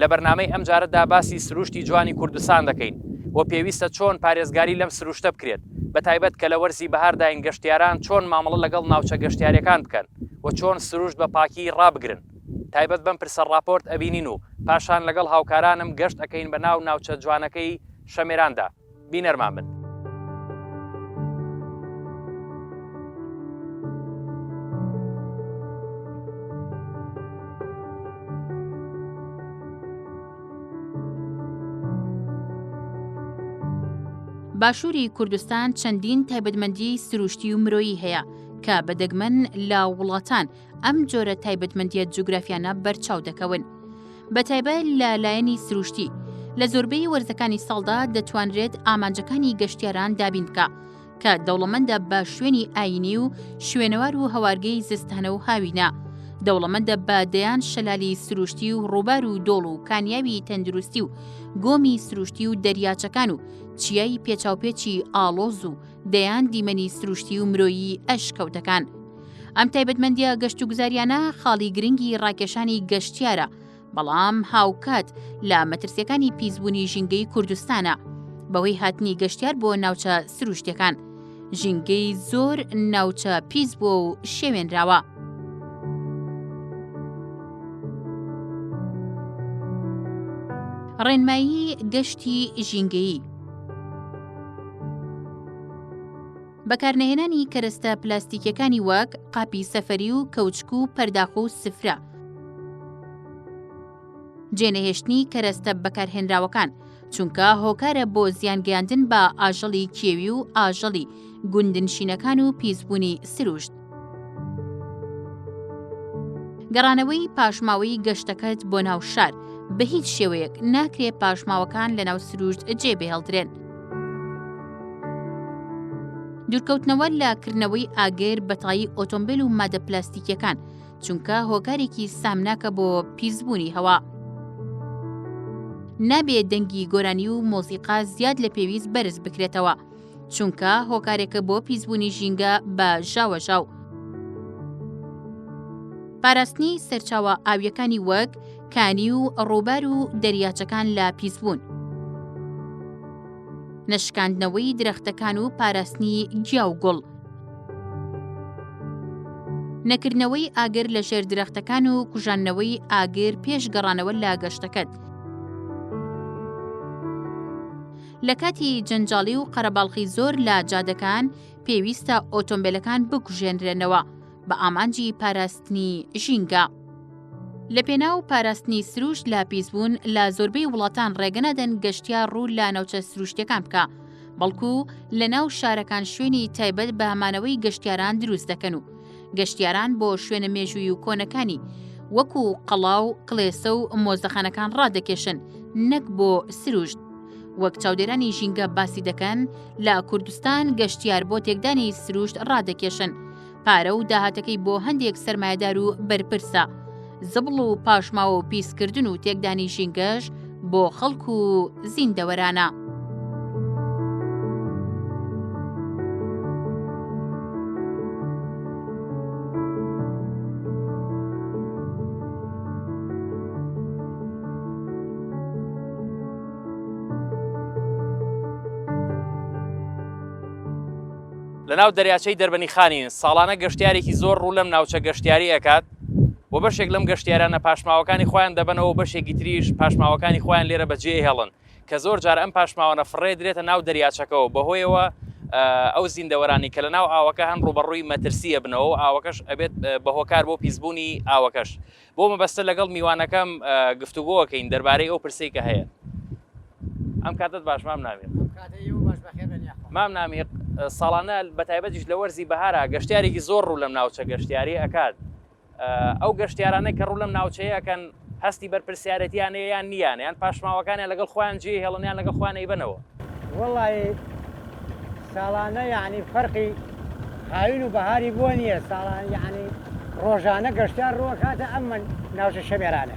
لە بەرنامەی ئەم جارەدا باسی سروشتی جوانی کوردستان دەکەین و پێویستە چۆن پارێزگاری لەم سروشتە بکرێت بە تایبەت کە لە وەرزی بەهارداین گەشتیاران چۆن مامەڵە لەگەڵ ناوچە گەشتیاریەکان بکەن و چۆن سروشت بە پاکی ڕابگرن تایبەت بەم پرسە ڕاپۆرت ئەبینین و پاشان لەگەڵ هاوکارانم گەشت ئەکەین بە ناو ناوچە جوانەکەی شەمێراندا. بینەرمان بن. باشووری کوردستان چەندین تایبەتمەندی سروشتی و مرۆیی هەیە کە بە دەگمەن لە وڵاتان ئەم جۆرە تایبەتمەندیە جوگرافیانە بەرچاو دەکەون بەتایبە لە لایەنی سروشتی لە زۆربەی وەرزەکانی ساڵدا دەتوانرێت ئامانجەکانی گەشتیاران دابین بکە کە دەوڵەمەندە بە شوێنی ئاینی و شوێنەوار و هەوارگەی زستانە و هاوینە دەوڵەمەندە بە دەیان شەلالی سروشتی و ڕووبار و دۆڵ و کانیاوی تەندروستی و گۆمی سروشتی و دەریاچەکان و چیای پێچاوپێچی ئاڵۆز و دەیان دیمەنی سروشتی و مرۆیی ئەش کەوتەکان. ئەم تایبەتمەندیە گەشت و گوزاریانە خاڵی گرنگی ڕاکێشانی گەشتیارە بەڵام هاوکات لە مەترسیەکانی پیسبوونی ژینگەی کوردستانە بەهۆی هاتنی گەشتیار بۆ ناوچە سروشتەکان ژینگەی زۆر ناوچە پیس بۆ و شێوێنراوە. ڕێنمایی گەشتی ژینگەیی بەکارنەهێنانی کەرەستە پلاستیکیەکانی وەک قاپی سەفەری و کەوچک و پەرداخ و سفرە. جێنەهێشتنی کەرەستە بەکارهێنراوەکان چونکە هۆکارە بۆ زیانگەیاندن بە ئاژەڵی کێوی و ئاژەڵی گوندنشینەکان و پیسبوونی سروشت. گەڕانەوەی پاشماوەی گەشتەکەت بۆ ناو شار بە هیچ شێوەیەک ناکرێ پاشماوەکان لە ناو سروشت جێ بهێڵدرێن. دوورکەوتنەوە لە کردنەوەی ئاگر بەتایی ئۆتۆمبیل و مادە پلاستیکیەکان چونکە هۆکارێکی سامناکە بۆ پیسبوونی هەوا. نابێ دەنگی گۆرانی و مۆسیقا زیاد لە پێویست بەرز بکرێتەوە چونکە هۆکارێکە بۆ پیسبوونی ژینگە بە ژاوەژاو. پاراستنی سەرچاوە ئاویەکانی وەک کانی و ڕووبار و دەریاچەکان لە پیسبوون. نەشکاندنەوەی درەختەکان و پاراستنی گیا و گوڵ. نەکردنەوەی ئاگر لە ژێر درەختەکان و کوژاندنەوەی ئاگر پێش گەڕانەوە لە گەشتەکەت. لە کاتی جەنجاڵی و قەرەباڵخی زۆر لە جادەکان پێویستە ئۆتۆمبیلەکان بکوژێنرێنەوە بە ئامانجی پاراستنی ژینگە. لە پێناو پاراستنی سروشت لە پیسبوون لە زۆربەی وڵاتان ڕێگەنەدەن گەشتیا ڕوو لە ناوچە سروشتەکان بکە بەڵکو لە ناو شارەکان شوێنی تایبەت بە مانەوەی گەشتیاران دروست دەکەن و گەشتیاران بۆ شوێنە مێژووی و کۆنەکانی وەکو قەڵا و کلێسە و مۆزەخانەکان ڕادەکێشن نەک بۆ سروشت وەک چاودێرانی ژینگە باسی دەکەن لە کوردستان گەشتیار بۆ تێکدانی سروشت ڕادەکێشن پارە و داهاتەکەی بۆ هەندێک سرمایهدار و بەرپرسە زبڵ و پاشماوە و پیسکردن و تێکدانی ژینگەش بۆ خەڵک و زیندەوەرانە. لەناو دەریاچەی دەربەنیخانین، ساڵانە گەشتیارێکی زۆر ڕوو لەم ناوچە گەشتیاری ئەکات، و بەشێک لەم گەشتیارانە پاشماوەکانی خۆیان دەبەنەوە و بەشێکی تریش پاشماوەکانی خۆیان لێرە بەجێهێڵن کە زۆر جار ئەم پاشماوانە فڕێ درێتە ناو دەریاچەکەەوە بەهۆیەوە ئەو زیندەوەرانی کە لە ناو ئاوەکە هەن ڕوبەڕووی مەترسیە بنەوە و ئاوەکەش ئەبێت بە هۆکار بۆ پیسبوونی ئاوەکەش بۆ مەبەستە لەگەڵ میوانەکەم گفتوگۆکەین دەربارەی ئەو پرسی کە هەیە ئەم کاتت باش مام ناوێت مام نامیق ساڵانە بە تایبەتیش لە وەرزی بەهارا گەشتارێکی زۆر ڕوو لەم ناوچە گەشتیاری ئەکات ئەو گەشتیارانە کە ڕوو لەم ناوچەیەکەن هەستی بەرپرسیارەتیان یان نیان یان پاشماوەکانیان لەگەڵ خۆیان جێ هێڵنیان لەگەڵ خوان ئەیبەنەوە وڵی ساڵانە یعنی فەرقی هاوین و بەهاری بۆ نییە ساڵان یعنی ڕۆژانە گەشتار ڕووەکاتە ئەمە ناوچە شەمێرانە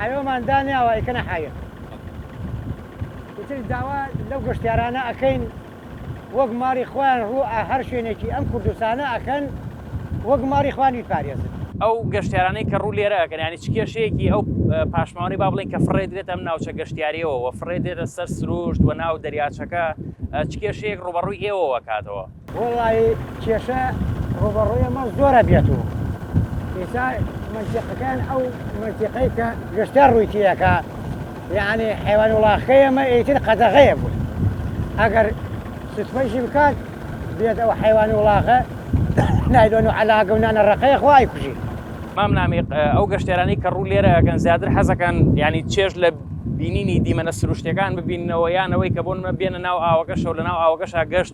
حەیۆمان دانیاوە ئەیکەنە حەیە. ئیتر داوا لەو گەشتیارانە ئەکەین وەک ماڵی خۆیان ڕوو ئە هەر شوێنێکی ئەم کوردستانە ئەکەن وەک ماڵی خۆیان بیپارێزن. ئەو گەشتیارانەی کە ڕوو لێرە ئەکەن یانی چ کێشەیەکی ئەو پاشماوانەی با بڵێین کە فڕێ درێت ئەم ناوچە گەشتیاریەوە وە فڕێ دێتە سەر سرووشت وە ناو دەریاچەکە چ کێشەیەک ڕووبەڕووی ئێوەوە کاتەوە؟ وەڵایی کێشە ڕووبەڕووی ئەمە زۆر ئەبێت و ئێستا مەنتیقەکان ئەو مەنتیقەی کە گەشتە ڕووی تێیەکە یعنی حیوان وڵاخەکەی ئەمە ئیتر قەدەغەیە بوو ئەگەر سوتفەیشی بکات بێت ئەو حیوان وڵاخە نایلۆن و عەلاگە و نانە ڕقەیە خوای کوژی مام نامیق ئەو گەشتێرانی کە ڕوو لێرە ئەگەن زیاتر حەزەکەن ینی چێژ لە بینینی دیمەنە سروشتەکان ببینەوە یانەوەی کە بۆنمە بێنە ناو ئاوەکەشەوە لە ناو ئاوەکەشا گەشت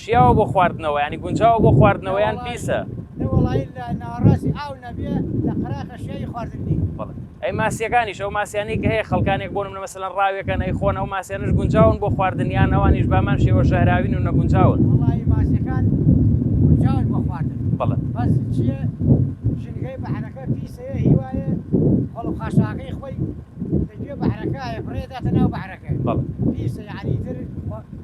شیاوە بۆ خواردنەوە ینی گونجاوە بۆ خواردنەوەیان پیسە ئەی ماسیەکانیش ئەو ماسیانی کە هەیە خەڵکانێک بۆن منە مەسەن ڕاوێکەن ئەی خۆن ئەو ماسیانش گونجاون بۆ خواردنیان ئەوانیش بامان شێوە ژەهراوین و نەگونجاون بەڵێ خاشاکەی خۆی بەعرەکە بڕێداتە ناو بەعرەکە بەڵێ پیسە یعنی تر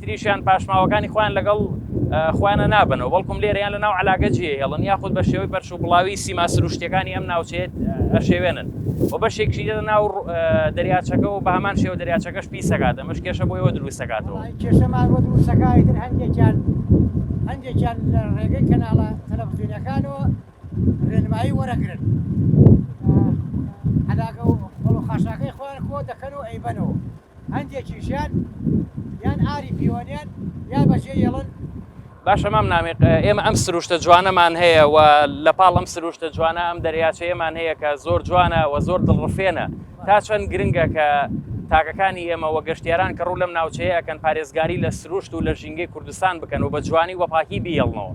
تریشیان پاشماوەکانی خۆیان لەگەڵ خۆیانە نابنەوە بەڵکم لێریان لە ناو علاگە جێ هێڵن یاخود بە شێوەی پەرش و بڵاوی سیما سروشتەکانی ئەم ناوچێت ئەشێوێنن و بەشێکشی لە ناو دەریاچەکە و بە هەمان شێوە دەریاچەکەش پیسەکات ئەمەش کێشە بۆیەوە دروستەکاتەوە کێشەمان بۆ دروستەکانی تر هەندێکیان هەندێکیان لە ڕێگەی کەناڵە تەلەڤزیونەکانەوە ڕێنمایی وەرەگرن علاگە و خۆڵ و خاشاکەی خۆیان خۆ دەکەن و ئەیبەنەوە هەندێکیشیان یان ئاری پیۆنێن یا بەشێ یڵن باشە مام نامیق ئێمە ئەم سروشتە جوانەمان هەیە و لە پاڵ ئەم سروشتە جوانە ئەم دەریاچەیەمان هەیە کە زۆر جوانە و زۆر دڵڕفێنە تا چەند گرنگە کە تاکەکانی ئێمە وە گەشتیاران کە ڕوو لەم ناوچەیەکەن پارێزگاری لە سروشت و لە ژینگەی کوردستان بکەن و بە جوانی وەپاکی بیڵنەوە.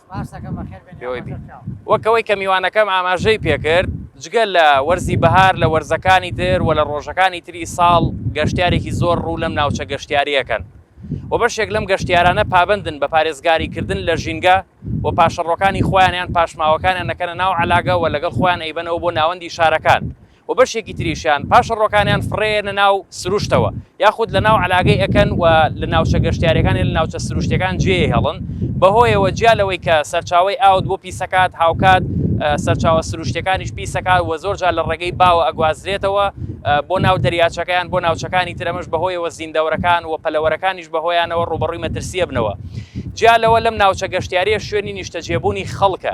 وەک ئەوەی کە میوانەکەم ئاماژەی پێکرد جگە لە وەرزی بەهار لە وەرزەکانی تر و لە ڕۆژەکانی تری ساڵ گەشتارێکی زۆر ڕوو لەم ناوچە گەشتیاریەکەن و بەشێک لەم گەشتیارانە پابندن بە پارێزگاریکردن لە ژینگە و پاشەڕۆکانی خۆیانیان پاشماوەکانیان نەکەنە ناو علاگەوە لەگەڵ خۆیان ئەیبەنەوە بۆ ناوەندی شارەکان و بەشێکی تریشیان پاشەڕۆکانیان فڕێنە ناو سروشتەوە یاخود لە ناو علاگەی ئەەکەن و لە ناوچە گەشتارەکانی لە ناوچە سروشتەکان جێ هێڵن بەهۆیەوە جیا لەوەی کە سەرچاوی ئاوت بۆ پیسەکات هاوکات سەرچاوە سروشتەکانیش پیسەکات و زۆر جار لە ڕێگەی باوە ئەگوازرێتەوە بۆ ناو دەریاچەکەیان بۆ ناوچەکانی ترەمەش بەهۆیەوە زیندەوەرەکان و پەلەوەرەکانیش بەهۆیانەوە ڕوبەڕووی مەترسیە بنەوە جیا لەوە لەم ناوچە گەشتیارە شوێنی نیشتەجێبوونی خەڵکە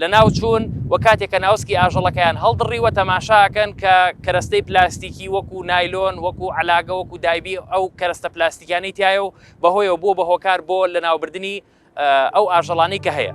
لەناو چوون و کاتێک کە ناوسکی ئاژەڵەکەیان هەڵدڕیوە تەماشاکەن کە کەرەستەی پلاستیکی وەکو نایلۆن وەکو علاگە وەکو دایبی ئەو کەرەستە پلاستیکیانی تایە و بەهۆیەوە بۆ بە هۆکار بۆ لەناوبردنی ئەو ئاژەڵانی کە هەیە.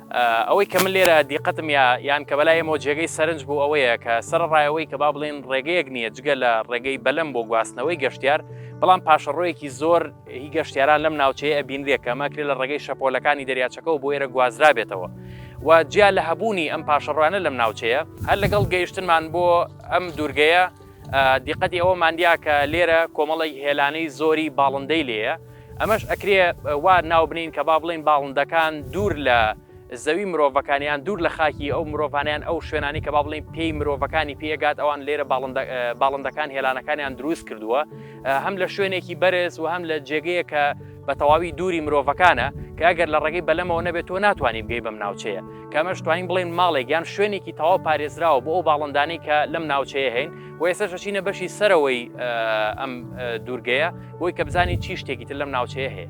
ئەوەی کە من لێرە دیقەتم یا یان کە بەلای ئێمەوە جێگەی سەرنج بوو ئەوەیە کە سەرەڕای ئەوەی کە با بڵێن ڕێگەیەک نییە جگە لە ڕێگەی بەلەم بۆ گواستنەوەی گەشتیار بەڵام پاشەڕۆیەکی زۆر هی گەشتیاران لەم ناوچەیە ئەبینرێ کە ماکرێ لە ڕێگەی شەپۆلەکانی دەریاچەکەەوە بۆ ئێرە گوازرابێتەوە و جیا لە هەبوونی ئەم پاشەڕوانە لەم ناوچەیە هەر لەگەڵ گەیشتنمان بۆ ئەم دوورگەیە دیقەتی ئەوەمان دیا کە لێرە کۆمەڵی هێلانەی زۆری باڵندەی لێیە ئەمەش ئەکرێ وا ناو بنین کە با بڵین باڵندەکان دوور لە زەوی مرۆڤەکانیان دوور لە خاکی ئەو مرۆڤانیان ئەو شوێنانی کە با بڵین پێی مرۆڤەکانی پێگات ئەوان لێرە باڵندەکان هێلانەکانیان دروست کردووە هەم لە شوێنێکی بەرز و هەم لە جێگەیە کە بە تەواوی دووری مرۆڤەکانە کە ئەگەر لە ڕێگەی بەلەمەوە نەبێت تۆ ناتوانانی بگەی بەم ناوچەیە کەمەش توانین بڵێن ماڵێک یان شوێنێکی تەواو پارێزراوە بۆ ئەو باڵندانەی کە لەم ناوچەیە هەین و ئێستا شەچینە بەشی سەرەوەی ئەم دوورگەیە بۆی کە بزانین چی شتێکی تر لەم ناوچەیە هەیە.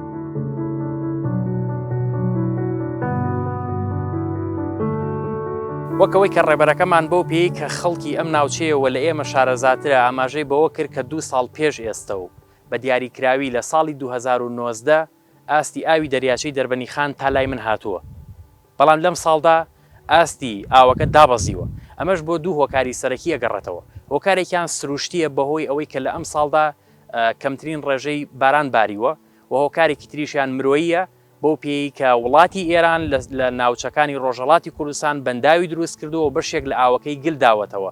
وەکەوەی کە ڕێبەرەکەمان بەو پێی کە خەڵکی ئەم ناوچەیەوە لە ئێمە شارەزاترە ئاماژەی بەوە کرد کە دوو ساڵ پێش ئێستە و بە دیاریکراوی لە ساڵی 2019 ئاستی ئاوی دەریاچەی دەربەنیخان تا لای من هاتووە بەڵام لەم ساڵدا ئاستی ئاوەکە دابەزیوە، ئەمەش بۆ دوو هۆکاری سەرەکی ئەگەڕێتەوە، هۆکارێکیان سروشتییە بەهۆی ئەوەی کە لە ئەم ساڵدا کەمترین ڕێژەی باران باریوە و هۆکارێکی تریشیان مرۆییە بەو پێیەی کە وڵاتی ئێران لە ناوچەکانی ڕۆژهەڵاتی کوردستان بەنداوی دروستکردووە و بەشێک لە ئاوەکەی گل داوەتەوە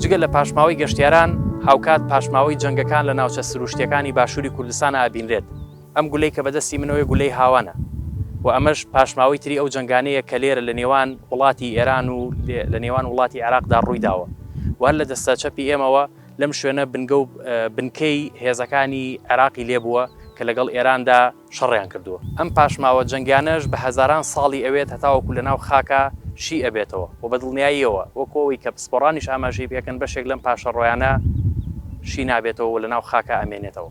جگە لە پاشماوەی گەشتیاران هاوکات پاشماوەی جەنگەکان لە ناوچە سروشتیەکانی باشووری کوردستان ئابینرێت ئەم گولەی کە بەدەستی منەوەی گولەی هاوانە و ئەمەش پاشماوەی تری ئەو جنگانەیە کە لێرە لە نێوان وڵاتی ئێران و لە نێوان وڵاتی عێراقدا ڕوویداوە وەر لە دەستە چەپی ئێمەوە لەم شوێنە بنگە و بنکەی هێزەکانی عێراقی لێبووە کە لەگەڵ ئێراندا شەڕیان کردووە ئەم پاشماوە جەنگیانەش بە هەزاران ساڵی ئەوێت هەتاوەکو لە ناو خاکا شی ئەبێتەوە وە بە دڵنیاییەوە وەکو ئەوەی کە پسپۆڕانیش ئاماژەی پێکەن بەشێک لەم پاشەڕۆیانە شی نابێتەوە و لە ناو خاکا ئەمێنێتەوە.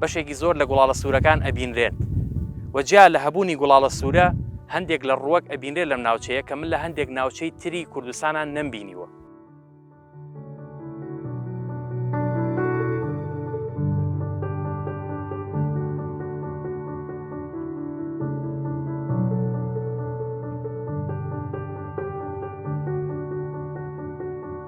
بەشێکی زۆر لە گوڵاڵە سوورەکان ئەبینرێن و جیا لە هەبوونی گوڵاڵە سوورە هەندێک لە ڕووەک ئەبینرێت لەم ناوچەیە کە من لە هەندێک ناوچەی تری کوردستانان نەمبینیوە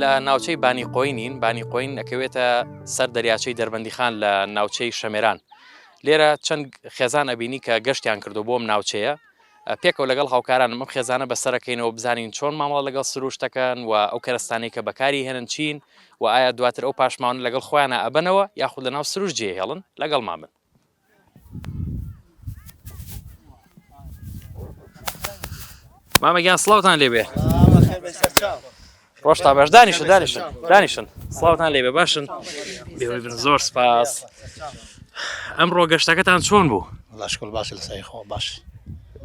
لە ناوچەی بانی قۆینین بانی قۆین ئەکەوێتە سەر دەریاچەی دەربەندیخان لە ناوچەی شەمێران لێرە چەند خێزان ئەبینی کە گەشتیان کردو بۆم ناوچەیە پێکەوە لەگەڵ هاوکارانم ئەم خێزانە بەسەرەکەینەوە بزانین چۆن مامەڵە لەگەڵ سرووشت دەکەن و ئەو کەرەستانەی کە بەکاری هێنن چین و ئایا دواتر ئەو پاشماوانە لەگەڵ خۆیانە ئەبەنەوە یاخود لە ناو سرووشت جێهێڵن لەگەڵمان بن. مامە گیان سڵاوتان لێبێ. ڕۆشتا باش دانیشن دانیشن دانیشن سڵاوتان لێ بە باشن بێبن زۆر سپاس ئەم ڕۆگەشتەکەتان چۆن بوو لەشکل باش لە سای خۆ باش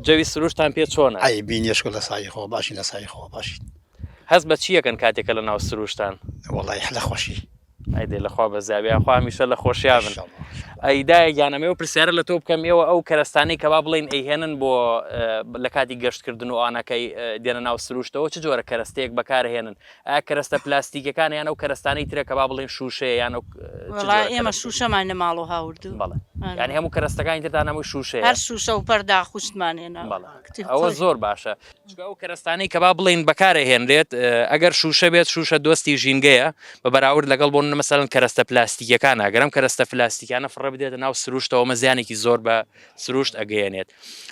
جەوی سروشتان پێ چۆن ئەی بینیشکل لە سای خۆ باشی لە سای خۆ باشی هەست بە چیەکەن کاتێکە لە ناو سروشتان وڵی حلە خۆشی ئەی دێ لەخوا بەزیابی یاخوا هەمیشە لە خۆشیا بن ئەی دایە گیان ئەمەوە پرسیارە لە تۆ بکەم ئێوە ئەو کەرەستانەی کە با بڵین ئەیهێنن بۆ لە کاتی گەشتکردن و ئانەکەی دێنە ناو سروشتەوە چ جۆرە کەرەستەیەک بەکارهێنن ئا کەرەستە پلاستیکەکان یان ئەو کەرەستانی ترەکە با بڵین شووشەیە یان ئێمە شووشەمان لە ماڵۆ هاوردو بڵێ ینی هەموو کەرەستەکانی ترتان هەمووی شووشەیە شووشە و پەردا خوشتمانێنە ئەوە زۆر باشە چونکە ئەو کەرەستانەی کە با بڵێین بەکارەهێنرێت ئەگەر شوشە بێت شوشە دۆستی ژینگەیە بە بەراورد لەگەڵ بۆن مەسەن کەرەستە پلاستیکەکان ئەگەرم کەرەستە پلاستیکانە فڕە بدێتە ناو سروشتەوە مە زیانێکی زۆر بە سروشت ئەگەیەنێت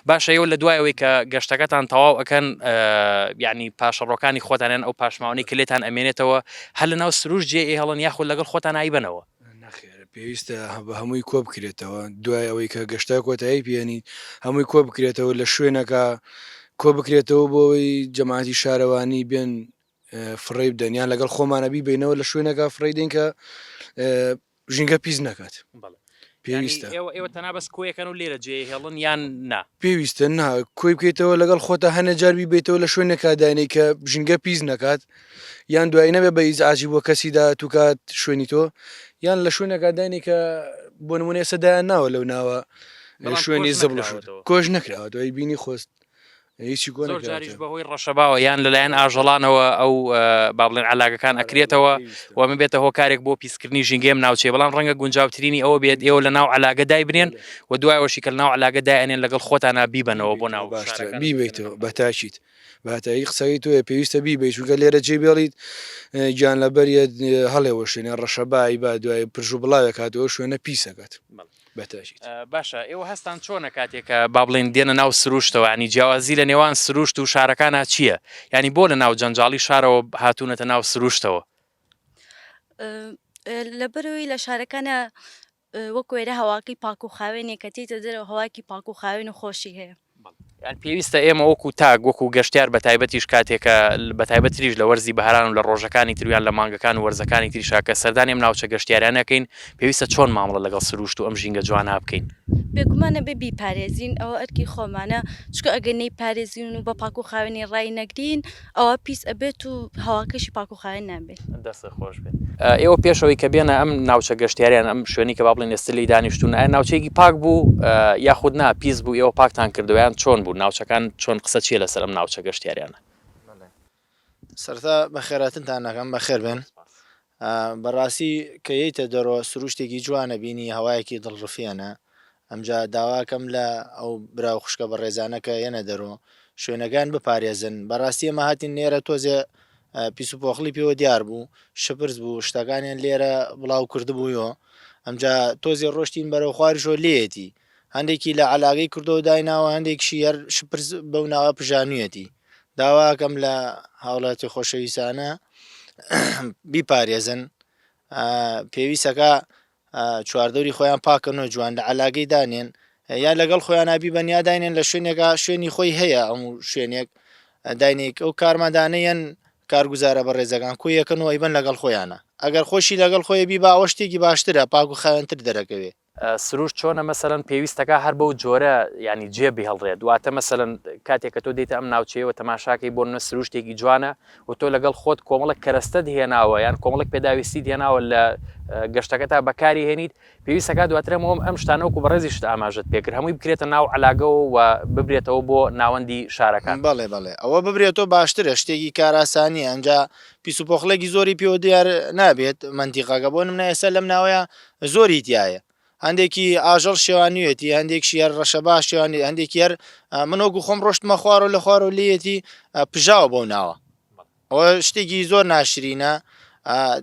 باشە ئەو لە دوایەوەی کە گەشتەکەتان تەواو ئەەکەن ینی پاشەڕۆکانی خۆتانیان ئەو پاشماوانی کلێتان ئەمێنێتەوە هەل لە ناو سروش جێ هەڵن یاخود لەگەڵ خۆتان ئایبەنەوە نەخێر پێویستە بە هەمووی کۆ بکرێتەوە دوای ئەوەی کە گەشتا کۆتایی پێێنیت هەمووی کۆ بکرێتەوە لە شوێنەکە کۆ بکرێتەوە بۆەوەی جەماعتی شارەوانی بێن فڕی بدەنیان لەگەڵ خۆمانە بیبینەوە لە شوێنەکە فڕی دێن کە ژینگە پیس نەکات پێویستە ئێوە تەنا بەس کۆیەکەن و لێرە جێ هێڵن یان نا پێویستە نا کۆی بکەیتەوە لەگەڵ خۆتە هەنە جاربی بیتەوە لە شوێنێکا داینەی کە ژینگە پیس نەکات یان دوایی نەبێ بە ئیزعاجی بۆ کەسی دا توکات شوێنی تۆ یان لە شوێنەکە دانی کە بۆ نمونێ سەدایان ناوە لەو ناوە شوێنی زبڵ کۆش نکراوە دوای بینی خۆست هیچی گۆ جاریش بەهۆی ڕەشەباوە یان لەلایەن ئاژەڵانەوە ئەو بابلێن علاگەکان ئەکرێتەوە و من بێتە هۆکارێک بۆ پیسکردنی ژینگەم ناوچێ بەڵام ڕەنگە گونجاوترینی ئەوە بێت ئێوە لە ناو علاگە دای بنێن و دوایەوەشی کە ناو علاگە دایێنێن لەگەڵ خۆتانە بیبەنەوە بۆ ناو باشتر بیبیتەوە بەتاچیت بەهەتایی قسەکەی تۆیە پێویستە بیبی چونکە لێرە جێ بێڵیت گیان لە بەریت هەڵێەوە شوێنە ڕەشە بای با دوای پرژ و بڵاوێک هاتەوە شوێنە پیسەکەت بەتەژیت باشە ئێوە هەستان چۆنە کاتێکە با بڵێن دێنە ناو سروشتەوانی جیاوازی لە نێوان سروشت و شارەکانە چییە ینی بۆ لە ناو جەنجاڵی شارەوە هاتوونەتە ناو سروشتەوە لەبەرەوەی لە شارەکانە وەک وێرە هەواکەی پاک و خاوێنێک کە تێیتە دەرەوە هەوایەکی پاک و خاوێن و خۆشی هەیە. یان پێویستە ئێمە وەکو تاک وەکو گەشتیار بەتایبەتیش کاتێکە بەتایبەت تریش لە وەرزی بەهاران و لە ڕۆژەکانی تر یان لە مانگەکان و وەرزەکانی تریشا کە سەردانی ئەم ناوچە گەشتیاریانە کەین پێویستە چۆن مامەڵە لەگەڵ سروشت و ئەم ژینگە جوانە بکەین؟ بێگومان ئەبێ بیپارێزین ئەوە ئەرکی خۆمانە چونکە ئەگەر نەیپارێزین و بە پاک و خاوێنی ڕای نەگرین، ئەوا پیس ئەبێت و هەواکەشی پاک و خاوێن نابێت. دەستت خۆش بێت. ئێوە پێش ئەوەی کە بێنە ئەم ناوچە گەشتیاریان ئەم شوێنی کە با بڵێن ئێستا لێی دانیشتوون ئایا ناوچەیەکی پاک بوو یاخود نا پیس بوو ئێوە پاکتان کردووە یان چۆن بوو ناوچەکان چۆن قسە چییە لەسەر ئەم ناوچە گەشتیاریانە؟ سەرەتا بەخێراتنتان ئەکەم بەخێربێن ئا بەڕاستی کە یەیتە دەرۆ سروشتێکی جوانە بینی هەوایەکی دڵ ڕفێنە ئەمجا داواکەم لە ئەو برا و خوشکە بەڕێزانە کە یەنە دەرۆ شوێنەکان بپارێزن بەڕاستی ئێمە هاتین نێرە تۆزێ پیس و پۆخڵی پێوە دیار بوو شپرز بوو شتەکانیان لێرە بڵاو کردبوویۆ ئەمجا تۆزێ ڕۆشتین بەرەو خواریشۆ لێیەتی هەندێکی لە عەلاگەی کردوەو دایناوە هەندێکشی هەر شپرز بەو ناوە پژانویەتی داواکەم لە هاوڵاتی خۆشەویسانە بیپارێزن پێویستەکە چواردەوری خۆیان پاکەنەوە جوان لە عەلاگەی دانێن یا لەگەڵ خۆیان نابی بەنیا داینێن لە شوێنێکا شوێنی خۆی هەیە ئەم شوێنێک داینێک ئەو کارمەدانەیەن کارگوزارە بە ڕێزەکان کو یەکەن و ئەیبەن لەگەڵ خۆیانە ئەگەر خۆشی لەگەڵ خۆی بی باوە شتێکی باشترە پاک و خاوێنتر دەرەکەوێ سروشت چۆنە مەسەلەن پێویستەکا هەر بەو جۆرە یانی جێ بهڵرێت واتە مەسەلەن کاتێک کە تۆ دیتە ئەم ناوچەیەوە تەماشاکەی بۆ نە سروشتێکی جوانە و تۆ لەگەڵ خۆت کۆمەڵک کەرەستەت هێناوە یان کۆمەڵک پێداویستی هێناوە لە گەشتەکە تا بەکاری هێنیت پێویستەکە دواترەمەوەم ئەم شتانەوەکو بەڕێزیشت ئاماژت پێکرد هەمووی بکرێتە ناو علاگەوە و ببرێتەوە بۆ ناوەندی شارەکان بەڵێ بەڵێ ئەوە ببرێتەوە باشترە شتێکی کاراسانی ئەجا پیسوپۆخلێکی زۆری پێوە دیار نابێت مندیقاگە بۆ منە ئێستا لەم ناوەیە زۆری تیایە هەندێکی ئاژەڵ شێوانویەتی هەندێکشی هەر ڕەشە باش شێوانی هەندێکی هەر منۆگو خۆم ڕۆشتمە خوارەوە لە خوارەوە لێتی پژاوە بەو ناوە ئەوە شتێکی زۆر ناشرینە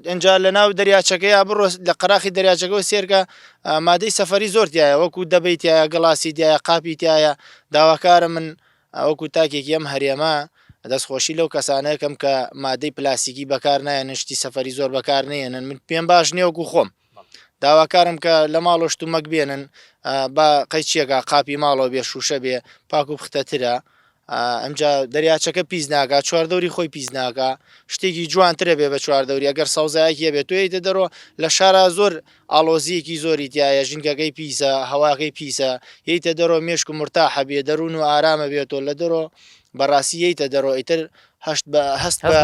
ئەجا لە ناو دەریاچەکەی بڕۆ لە قەراخی دەریاچەکەەوە سێرکە مادەی سەفری زۆرتیایە وەکو دەبیتایە گەڵاسی دیایە قاپی تایە داواکارە من ئا وەکو تاکێکی ئەم هەرێمە دەست خۆشی لەو کەسانە ئەکەم کە مادەی پلاستیکی بەکار نایەنن شتی سەفەری زۆر بەکار نەیەنن من پێم باش نیە وەکو خۆم داواکارم کە لە ماڵۆ شتومەک بێنن ئا با قەیچیەکە قاپی ماڵەوە بێ شوشە بێ پاک و پختە ترە ئا ئەمجا دەریاچەکە پیس ناکا چوار دەوری خۆی پیس ناکا شتێکی جوانترە بێ بە چوار دەوری ئەگەر سەوزایەکی هەبێ تۆ یەیتە دەرۆ لە شارا زۆر ئاڵۆزیەکی زۆری تیایە ژینگەکەی پیسە هەواکەی پیسە یەیتە دەرۆ مێشک مورتاحە بێ دەرون و ئارامە بێ تۆ لە دەرۆ بەڕاسی یەیتە دەرۆ ئیتر هەشت بە هەست بە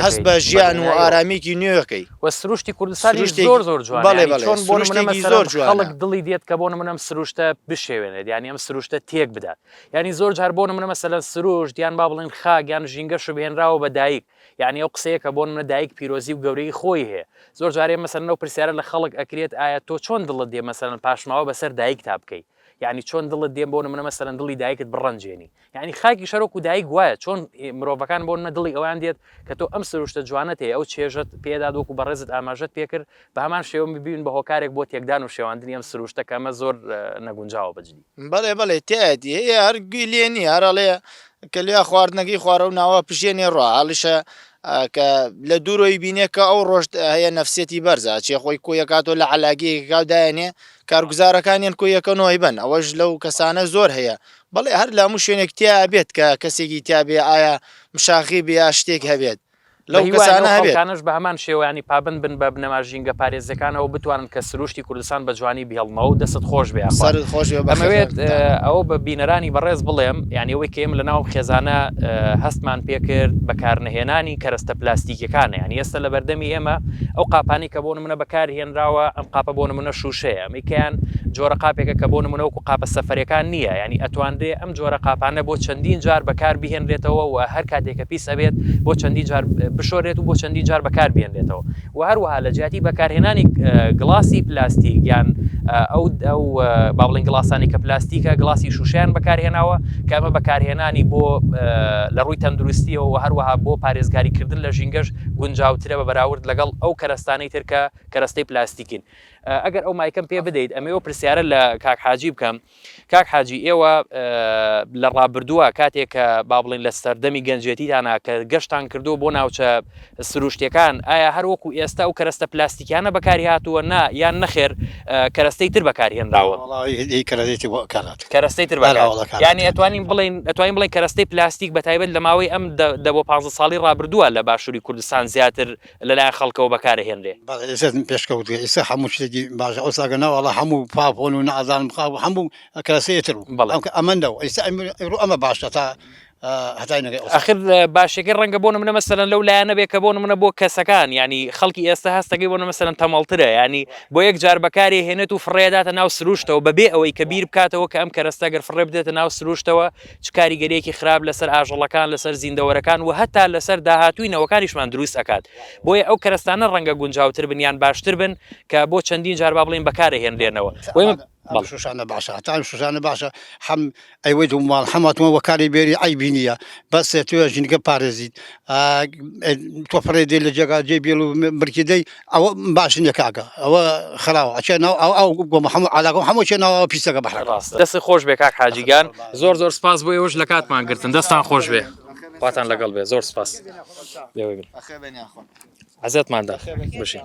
هەست بە ژیان و ئارامیەکی نوێکەی وە سروشتی کوردستانی زۆر زۆر جوان بەڵێ بەڵێ چۆن بۆ نمونە زۆر جوان خەڵک دڵی دێت کە بۆ نمونە ئەم سروشتە بشێوێنێت یانی ئەم سروشتە تێک بدات یانی زۆر جار بۆ نمونە مەسەلەن سروشت یان با بڵێن خاک یان ژینگە شوبهێنراوە بە دایک یانی ئەو قسەیە کە بۆ نمونە دایک پیرۆزی و گەورەیی خۆی هەیە زۆر جارێ مەسەلەن ئەو پرسیارە لە خەڵک ئەکرێت ئایا تۆ چۆن دڵت دێ مەسەلەن پاشماوە بەسەر دایکتا بکەی یعنی چۆن دڵت دێن بۆ نمونە مەسەلەن دڵی دایکت بڕەنجێنی یعنی خاکی شەرۆک و دایک وایە چۆن مرۆڤەکان بۆ نە دڵی ئەوان دێت کە تۆ ئەم سروشتە جوانت هەیە ئەو چێژت پێداد وەکو بەڕێزت ئاماژەت پێکرد بە هەمان شێوە ببین بە هۆکارێک بۆ تێکدان و شێواندنی ئەم سرووشتە کە ئەمە زۆر نەگونجاوە بەجدی. بەڵێ بەڵێ تیایەتی هەیە هەر گوێی لێ نییە هەر ئەڵێ کە لێ خواردنەکەی خوارە و ناوە پژێنێ ڕوا هەڵیشە کە لە دوورۆی بینێ کە ئەو ڕۆژ هەیە نەفسێتی بەرزە چێ خۆی کۆیەکاتۆ لە علاگەیەکاو دایێنێ کارگوزارەکانیان کۆیەکەنەوەی بن ئەوەش لەو کەسانە زۆر هەیە بەڵێ هەر لە هەموو شوێنێک تیا بێت کە کەسێکی تیاابێ ئایا مشاخی بێ یا شتێک هەبێت بە هیوای ئەو خەڵکانەش بە هەمان شێوەیانی پابەند بن بە بنەما ژینگە پارێزەکانەوە بتوانن کە سروشتی کوردستان بە جوانی بهێڵنەوەو دەستت خۆش بێ یاخوا. سەرت خۆش بێ بەخێر جارتکە. ئەمەوێت ئەوە بە بینەرانی بەڕێز بڵێم یانی ئەوەی کە ئێمە لە ناو ئەم خێزانە هەستمان پێ کرد بە کار نەهێنانی کەرەستە پلاستیکیەکانە یانی ئێستا لە بەردەمی ئێمە ئەو قاپانەی کە بۆ نمونە بەکار هێنراوە ئەم قاپە بۆ نمونە شوشەیە ئەمەی کەیان جۆرە قاپێکە کە بۆ نمونە وەکو قاپە سەفەرەکان نییە یانی ئەتوانرێ ئەم جۆرە قاپانە بۆ چەندین جار بەکار بهێنرێتەوە و هەر کاتێک کە پیس ئەبێت بۆ چەندین جار بشۆرێت و بۆ چەندین جار بەکار بێنرێتەوە و هەروەها لە جیاتی بەکارهێنانی گڵاسی پلاستیک یان ئەو ئەو با بڵێن گڵاسانی کە پلاستیکە گڵاسی شوشیان بەکارهێناوە کە ئەمە بەکارهێنانی بۆ لە ڕووی تەندروستیەوە و هەروەها بۆ پارێزگاریکردن لە ژینگەش گونجاوترە بە بەراورد لەگەڵ ئەو کەرەستانەی ترکە کەرەستەی پلاستیکین ئەگەر ئەو مایکم پێ بدەیت ئەمەوە پرسیارە لە کاک حاجی بکەم کاک حاجی ئێوە لە ڕابردووە کاتێک کە با بڵین لە سەردەمی گەنجێتیتانە کە گەشتان کردو بۆ ناوچە سروشتەکان ئایا هەر وەکو ئێستا و کەرەستە پلاستیکیانە بەکاری هاتووە نا یان نەخێر کەرەستەی تر بەکارهێنراوە کەرەستەی تر ینی ئەتوانین بڵین ئەتوانین بڵین کەرەستەی پلاستیک بە تایبەت لە ماوەی ئەم دە بۆ پ ساڵی ڕابردووە لە باشووری کوردستان زیاتر لەلایەن خەڵکەوە بەکارئەهێنرێ. بەڕێزتن پێشکەوتگە ئیسە هەموو شتێکی باشە ئەوسا گە نەواڵە هەموو پاپۆن و نازانم خاو هەموو کەسەیە تر و بەڵێ ئەم کە ئەمە نەو ئیسە ئەمرو ئەمە باشە تا هەتای نەگەی ئەوسا. ئەخر باشیەکەی ڕەنگە بۆ نمونە مەسەلەن لەو لایەنە بێ کە بۆ نمونە بۆ کەسەکان یانی خەڵکی ئێستا هەستەکەی بۆ نمونە مەسەلەن تەمەڵ ترە یانی بۆ یەک جار بەکارێ هێنێت و فڕێ ئەداتە ناو سروشتەوە بەبێ ئەوەی کە بیر بکاتەوە کە ئەم کەرەستە گەر فڕێ بدرێتە ناو سروشتەوە چ کاریگەریەکی خراپ لەسەر ئاژەڵەکان لەسەر زیندەوەرەکان و هەتا لەسەر داهاتووی نەوەکانیشمان دروست ئەکات بۆیە ئەو کەرەستانە ڕەنگە گونجاوتر بن یان باشتر بن کە بۆ چەندین جار با بڵێن بەکارە هێنرێنەوە وەیە شوشانە باشە هەتا شوشانە باشە حەم ئەیوەی دوو ماڵ حەماتمە وەکاری بێری ئەیبی نییە بەس توێ ژینگە پارێزیت تۆ فڕێ دێ لە جێگا جێ بێڵ و مرکیدەی ئەو باش نیە کاکە ئەوە خراوە ئەچێ ناو ئەو ئەو گۆ محەمە علاگۆ هەموو چێ ناوە پیسەکە بەحرە ڕاستە دەست خۆش بێ کاک حاجیگان زۆر زۆر سپاس بۆ ئێوەش لە کاتمان گرتن دەستان خۆش بێ خواتان لەگەڵ بێ زۆر سپاس لێوەی بن عزتماندا بشین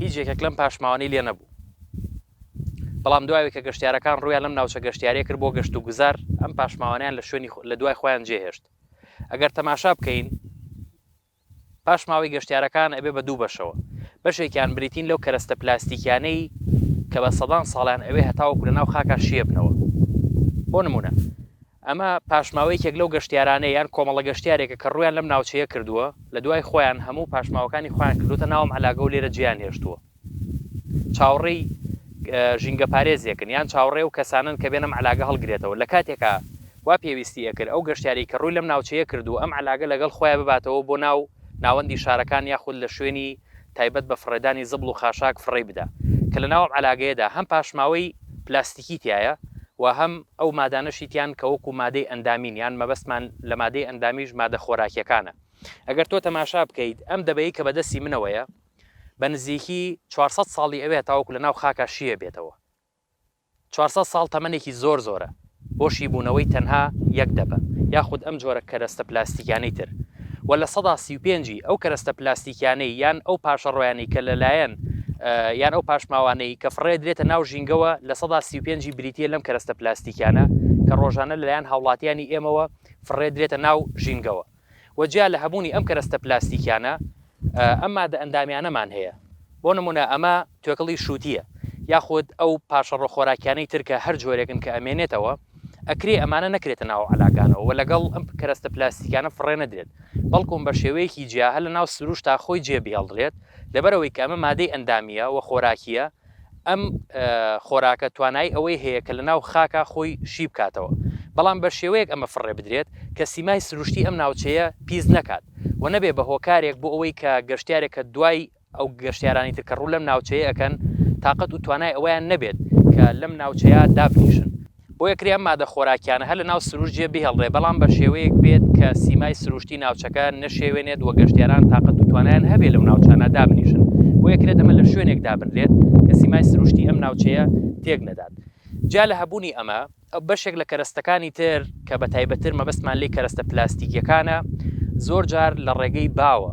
هیچ یەکێک لەم پاشماوانەی لێ نەبوو. بەڵام دوای کە گەشتیارەکان ڕوویان لەم ناوچە گەشتیارییە کرد بۆ گەشت و گوزار، ئەم پاشماوانەیان لە شوێنی لە دوای خۆیان جێ هێشت. ئەگەر تەماشا بکەین، پاشماوەی گەشتیارەکان ئەبێ بە دوو بەشەوە. بەشێکیان بریتین لەو کەرەستە پلاستیکیانەی کە بە سەدان ساڵیان ئەوێ هەتاوەکو لە ناو خاکا شیێ بنەوە. بۆ نموونە. ئەمە پاشماوە یەکێک لەو گەشتیارانەیە یان کۆمەڵە گەشتیارێکە کە ڕوویان لەم ناوچەیە کردووە، لە دوای خۆیان هەموو پاشماوەکانی خۆیان کردۆتە ناو ئەم عەلاگە و لێرە جێیان هێشتووە. چاوڕێی ژینگەپارێزێکن یان چاوڕێ و کەسانن کە بێن ئەم عەلاگە هەڵگرێتەوە، لە کاتێکا وا پێویستی ئەکرد ئەو گەشتیارەی کە ڕووی لەم ناوچەیە کردووە ئەم عەلاگە لەگەڵ خۆیان بباتەوە بۆ ناو ناوەندی شارەکان یاخود لە شوێنی تایبەت بە فڕێدانی زبڵ و خاشاک فڕێی بدا کە لەناو ئەم عەلاگەیەدا هەم پاشماوەی پلاستیکی تیایە و هەم ئەو مادانەشی تیان کە وەکو مادەی ئەندامین یان مەبەستمان لە مادەی ئەندامیش مادە خۆراکیەکانە ئەگەر تۆ تەماشا بکەیت ئەم دەبەی کە بەدەستی منەوەیە بە نزیکی چوار سەد ساڵی ئەوێ هەتاوەکو لەناو خاکا شیێ بێتەوە چوار سەد ساڵ تەمەنێکی زۆر زۆرە بۆ شیبوونەوەی تەنها یەک دەبە یاخود ئەم جۆرە کەرەستە پلاستیکیانەی تر وە لە سەدا سی و پێنج ی ئەو کەرەستە پلاستیکیانەی یان ئەو پاشەڕۆیانەی کە لەلایەن یان ئەو پاشماوانەی کە فڕێ درێتە ناو ژینگەوە لە سەدا سی و پێنج ی بریتیە لەم کەرەستە پلاستیکیانە کە ڕۆژانە لەلایەن هاوڵاتیانی ئێمەوە فڕێ درێتە ناو ژینگەوە. و جیا لە هەبوونی ئەم کەرەستە پلاستیکیانە ئەم مادە ئەندامیانەمان هەیە بۆ نمونە ئەمە توێکڵی شوتیە یاخود ئەو پارشەڕۆ خۆراکیانەی تر کە هەر جۆرێکن کە ئەمێنێتەوە ئەکرێ ئەمانە نەکرێتە ناو عەلاکانەوە و لەگەڵ ئەم کەرەستە پلاستیکانە فڕێ نەدرێت بەڵکوم بە شێوەیەکی جیا هەر لە ناو سروشتا خۆی جێ بهێڵدرێت لەبەرئەوەی کە ئەمە مادەی ئەندامیە و خۆراکیە ئەم خۆراکە توانایی ئەوەی هەیە کە لەناو خاکا خۆی شی بکاتەوە، بەڵام بە شێوەیەک ئەمە فڕێ بدرێت کە سیمای سروشتی ئەم ناوچەیە پیس نەکات و نەبێ بە هۆکارێک بۆ ئەوەی کە گەشتیارێک کە دوای ئەو گەشتیارانی تر کە ڕوو لەم ناوچەیە ئەکەن تاقەت و توانای ئەوەیان نەبێت کە لەم ناوچەیە دابنیشن. بۆیە کرێ ئەم مادە خۆراکیانە هەر لە ناو سروشت جێ بهێڵرێ بەڵام بە شێوەیەک بێت کە سیمای سروشتی ناوچەکە نەشێوێنێت وە گەشتیاران تاقەت و توانایان هەبێ لەو ناوچانە دابنیشن بۆیە کرێت ئەمە لە شوێنێک دابنرێت کە سیمای سروشتی ئەم ناوچەیە تێک نەدات جیا لە هەبوونی ئەمە بەشێک لە کەرەستەکانی تر کە بە تایبەتتر مەبەستمان لێی کەرەستە پلاستیکیەکانە زۆر جار لە ڕێگەی باوە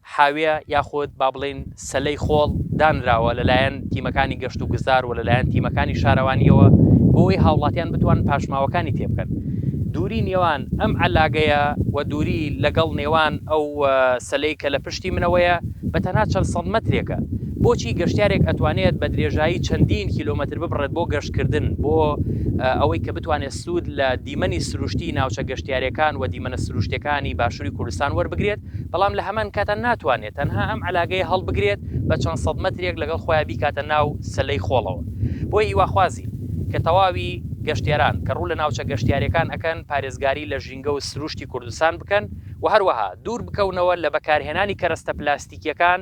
حاویە یاخود با بڵێین سەلەی خۆڵ دانراوە لەلایەن تیمەکانی گەشت و گوزار و لەلایەن تیمەکانی شارەوانییەوە بۆ ئەوەی هاوڵاتیان بتوان پاشماوەکانی تێبکەن دووری نێوان ئەم عەلاگەیە و دووری لەگەڵ نێوان ئەو سەلەی کە لە پشتی منەوەیە بە تەنها چەند سەد مەترێکە بۆچی گەشتیارێک ئەتوانێت بە درێژایی چەندین کیلۆمەتر ببڕێت بۆ گەشتکردن بۆ ئەوەی کە بتوانێت سوود لە دیمەنی سروشتی ناوچە گەشتیارەکان و دیمەنە سروشتەکانی باشووری کوردستان وەربگرێت بەڵام لە هەمان کاتا ناتوانێت تەنها ئەم عەلاگەیە هەڵبگرێت بە چەند سەد مەترێک لەگەڵ خۆیا بیکاتە ناو سەلەی خۆڵەوە بۆیە هیواخوازین کە تەواوی گەشتیاران کە ڕوو لە ناوچە گەشتیارەکان ئەکەن پارێزگاری لە ژینگە و سروشتی کوردستان بکەن و هەروەها دوور بکەونەوە لە بەکارهێنانی کەرەستە پلاستیکیەکان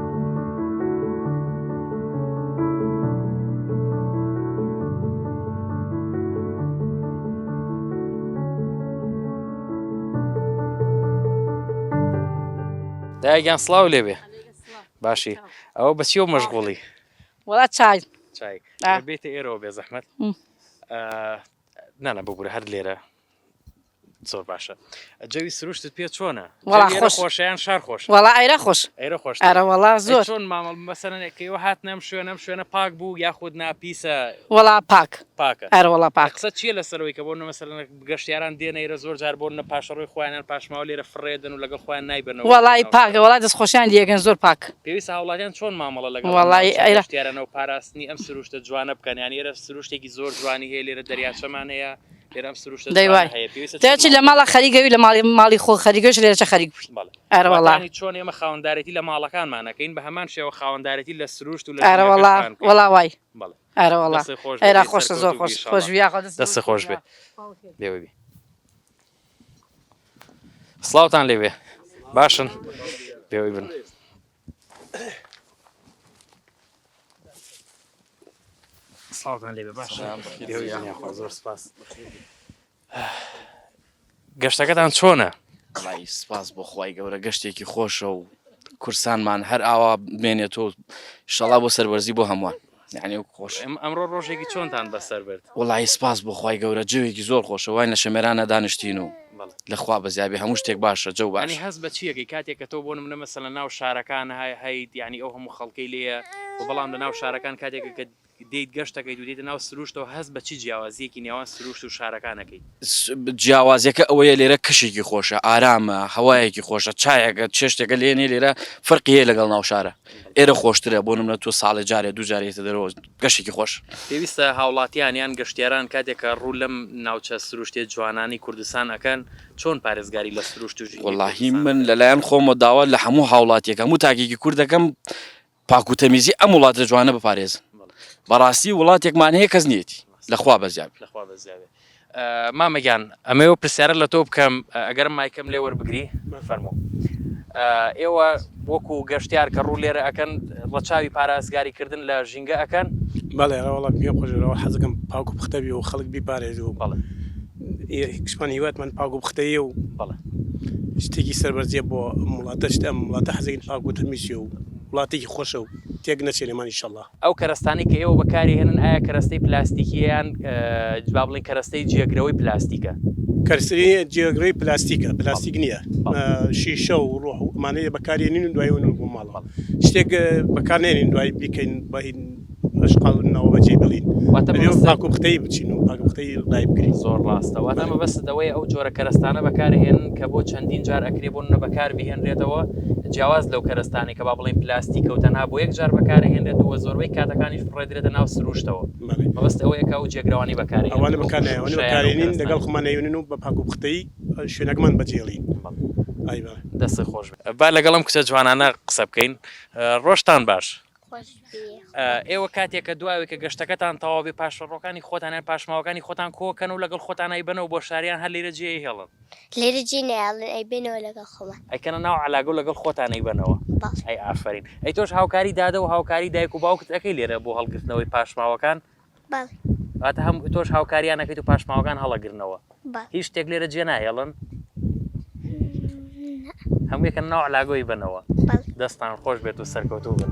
دایگیان سلااو لێبێ باشی ئەوە بەچی و مەشغوڵی وڵا چای بێتە ئێرەوە بێ زەحمت نانە ببوورە هەر لێرە زۆر باشە جەوی سروشتت پێ چۆنە خۆشیان شار خۆش وڵا ئایرا خۆش ئەرە خۆش ئەرە وڵا زۆر چۆن مامەڵ مەسەرەکەەوە هات نەم شوێنەم شوێنە پاک بوو یاخود ناپیسە وڵا پاک پاکە ئەرە وڵا پاکسە چیە لە سەرەوەی کە بۆ نەمەسەر گەشتیاران دێنەیرە زۆر جار بۆن نە پاشەڕۆی خۆیانان پاشماوە لێرە فڕێدن و لەگەڵ خۆیان نایبن وڵی پاکە وڵا دەست خۆشیان دیێگەن زۆر پاک پێویست هاوڵاتیان چۆن مامەڵە لەگەڵ وڵی ئەرشتیارانەوە پاراستنی ئەم سروشتە جوانە بکەن یان ئێرە سروشتێکی زۆر جوانی هەیە لێرە دەریاچەمان هەیە دەی وای تێچی لە ماڵە خەریگەوی لە ماڵی ماڵی خۆ خەریگەش لێرەچە خەریک بووی ئەرەوەڵانی چۆن ئێمە خاوەندارێتی لە ماڵەکانمانەکەین بە هەمان شێوە خاوەندارێتی لە سروشت و لە ئەرەوەڵا وڵا وای ئەرەوەڵا ئێرا خۆش زۆر خۆش خۆش دەست خۆش بێ لێوەبی سلااوان لێوێ باشن پێوەی بن سڵاوتان لێ باش زۆر سپاس گەشتەکەتان چۆنە؟ بەڵی سپاس بۆ خی گەورە گەشتێکی خۆشە و کورسانمان هەر ئاوا بمێنێت و شەڵا بۆ سەروەرزی بۆ هەمووان یانی وەک خۆش ئەمڕۆ ڕۆژێکی چۆنتان بەسەر برد وڵی سپاس بۆ خی گەورە جەوێکی زۆر خۆشە وای لە شەمێرانە دانیشتین و لەخوا بەزیابێ هەموو شتێک باشە جەو بانی هەز بە چیەکەی کاتێک کە تۆ بۆ منە مەسە لە ناو شارەکان های هەیت ینی ئەو هەموو خەڵکەی لێە و بەڵام لە ناو شارەکان کاتێک کە دیت گەشتەکەی دوێتە ناو سروشتەوە هەز بە چی جیاوازیەکی نێوان سروشت و شارەکانەکەیت جیاوازیەکە ئەوەیە لێرە کەشێکی خۆشە ئارامە هەوایەکی خۆشە چایەکە چێشتێکە لێنێ لێرە فەرقی هەیە لەگەڵ ناوشارە ئێرە خۆشترە بۆ نمە تۆ ساڵێ جارێ دوو جارێتە دەرەوە گەشتێکی خۆش پێویستە هاوڵاتیان یان گەشتیاران کاتێکە ڕوو لەم ناوچە سروشتیە جوانانەی کوردستان ئەکەن چۆن پارێزگاری لە سروشت و ژینگەی کوردستان بکەن؟ وەڵاهی من لەلایەن خۆمەوە داوا لە هەموو هاوڵاتیەکەم و تاکێکی کورد دەکەم پاک و تەمیزی ئەم وڵاتە جوانە بپارێزن بەڕاستی وڵاتێکمان هەیە کەس نیەتی لەخوا بەزیاب لەخوا بەزیابێ مامەگیان ئەمەوە پرسیارە لە تۆ بکەم ئەگەرم مایکەم لێ وەربگری فەرمو ئێوە وەکو گەشتیار کە ڕوو لێرە ئەەکەن ڕەچاوی پارازگاری کردن لە ژینگە ئەەکەن بەڵێ ڕەوەڵە پێ خۆشەوە حەزەکەم پاکو پختەبی و خەڵک بیپارێزی و بەڵێ هیکسمان هیواتمان پاک و پختەیە و شتێکی سەربەرزیە بۆ ئەم وڵاتەشت ئەم وڵاتە حەزەکەین پاک و تەمیزی و وڵاتێکی خۆشە و تێک نەچێ لێمان ئیشەڵا. ئەو کەرەستانەی کە ئێوە بەکاری ئەهێنن ئایا کەرەستەی پلاستیکیە یان با بڵێین کەرەستەی جێگرەوەی پلاستیکە؟ کەرەستەی جێگرەوەی پلاستیکە پلاستیک نییە شیشە و ڕۆح و ئەمانەیە بەکارێنین و دوای ونبوو ماڵەوە شتێک بەکار نێنین دوای بیکەین بە لەشقاونەوە بەجێی بڵین پاکوختەی بچین و پاکوختەی لای بکرین زۆر ڕاستە واتە مەبەست دەوەی ئەو جۆرە کەرستانە بەکارهێن کە بۆ چەندین جار ئەکرێ بۆ نە بەکار بهێنرێتەوە جیاواز لەو کەرستانی کە با بڵین پلاستیک و تەنها بۆ یەک جار بەکارهێنرێت و زۆربەی کاتەکانی فڕێدرێتە ناو سروشتەوە مەبەست ئەوەیەکە و جێگرانی بەکار ئەوانە بەکارێنین لەگەڵ خمانەیونن و بە پاکوختەی شوێنەکەمان بەجێڵی دەستی خۆش با لەگەڵم کچە جوانانە قسە بکەین ڕۆشتان باش ئێوە کاتێک کە دواوێک کە گەشتەکەتان تەواوبێ پاشەڕۆکانی خۆتانیان پاشماوەکانی خۆتان کۆکەن و لەگەڵ خۆتانای بنەوە بۆ شاریان هەر لێرە جێ هێڵن لێرە جێ نێڵن ئەی بێنەوە لەگەڵ خۆمان ئەکەنە ناو علاگە لەگەڵ خۆتانەی بنەوە ئەی ئافرین ئەی تۆش هاوکاری دادە و هاوکاری دایک و باوکت ئەەکەی لێرە بۆ هەڵگرتنەوەی پاشماوەکان بەڵێ. واتە هەم تۆش هاوکاریان ئەکەیت و پاشماوەکان هەڵەگرنەوە؟ بەڵێ. هیچ شتێک لێرە جێ ناهێڵن؟ نا. هەموو یەکە ناو عەلاگۆی بەنەوە. بەڵێ. دەستان خۆش بێت و سەرکەوتوو بن.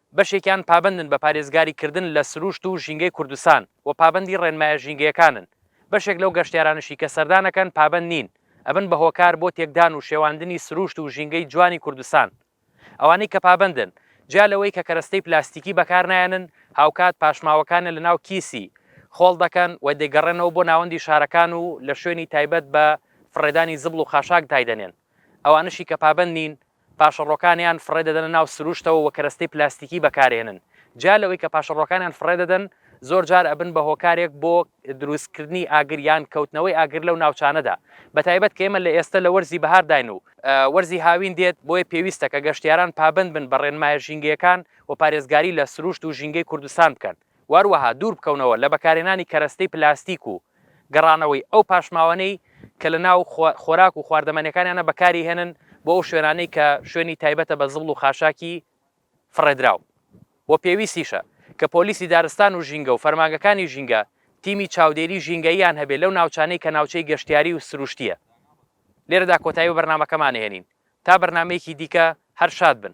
بەشێکیان پابەندن بە پارێزگاری کردن لە سرووشت و ژینگەی کوردستان و پابەندی ڕێنمایە ژینگەیەکانن، بەشێک لەو گەشتیارانەشی کە سەردانەکەن پابەند نین، ئەبن بە هۆکار بۆ تێکدان و شێواندنی سرووشت و ژینگەی جوانی کوردستان. ئەوانەی کە پابەندن، جیا لەوەی کە کەرەستەی پلاستیکی بەکارنایەنن، هاوکات پاشماوەکانیان لەناو کیسی خۆڵ دەکەن و دەیگەڕێنەوە بۆ ناوەندی شارەکان و لە شوێنی تایبەت بە فڕێدانی زبڵ و خاشاک دایدەنێن. ئەوانەشی کە پابەند نین، پاشەڕۆکانیان فڕێ دەدەنە ناو سروشتەوە و کەرەستەی پلاستیکی بەکارێنن. جیا لەوەی کە پاشەڕۆکانیان فڕێ دەدەن، زۆر جار ئەبن بە هۆکارێک بۆ دروستکردنی ئاگر یان کەوتنەوەی ئاگر لەو ناوچانەدا، بە تایبەت کە ئێمە لە ئێستە لە وەرزی بەهارداین و، وەرزی هاوین دێت، بۆیە پێویستە کە گەشتیاران پابەند بن بە ڕێنمایە ژینگەیەکان و پارێزگاری لە سروشت و ژینگەی کوردستان بکەن. وهروەها دوور بکەونەوە لە بەکارهێنانی کەرەستەی پلاستیک و گەڕانەوەی ئەو پاشماوانەی کە لە ناو خۆراک و خواردەمەنیەکانیانە بەکاری هێنن بۆ ئەو شوێنانەی کە شوێنی تایبەتە بە زبڵ و خاشاکی فڕێدراو و پێویستیشە کە پۆلیسی دارستان و ژینگە و فەرمانگەکانی ژینگە تیمی چاودێری ژینگەییان هەبێ لەو ناوچانەی کە ناوچەی گەشتیاری و سروشتیە. لێرەدا کۆتایی بە بەرنامەکەمان ئەهێنین تا بەرنامەیەکی دیکە هەر شاد بن.